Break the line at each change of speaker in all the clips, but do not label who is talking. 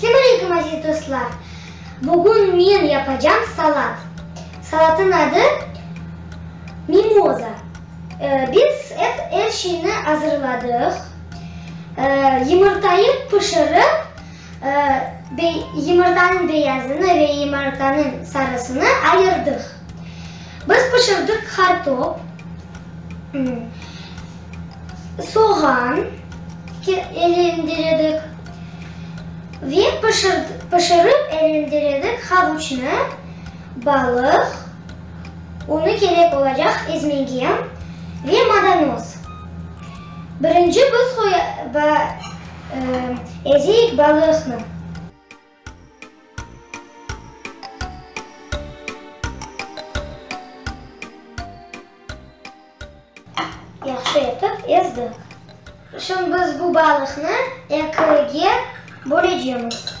Selam aleyküm aziz dostlar. Bugün men yapacam salat. Salatın adı mimoza. Biz er şeyni azırladıq. Yımırtayı pişirip yımırtanıñ beyazını ve yımırtanıñ sarısını ayırdıq. Biz pişirdıq qartop, soğan elendiredik ve pişirip elendiredik havuçnı, balıq, unı kerek olacaq ezmege, ve madanoz. Birinci biz ezeyik balıqnı. Yahşı etip ezdik. Şimdi biz bu balıqnı ekige bölecemiz.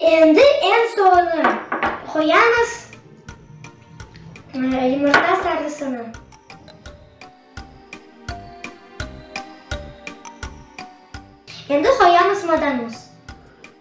Endi eñ soñu qoyamız yumurta sarısını. Endi qoyamız madanuz.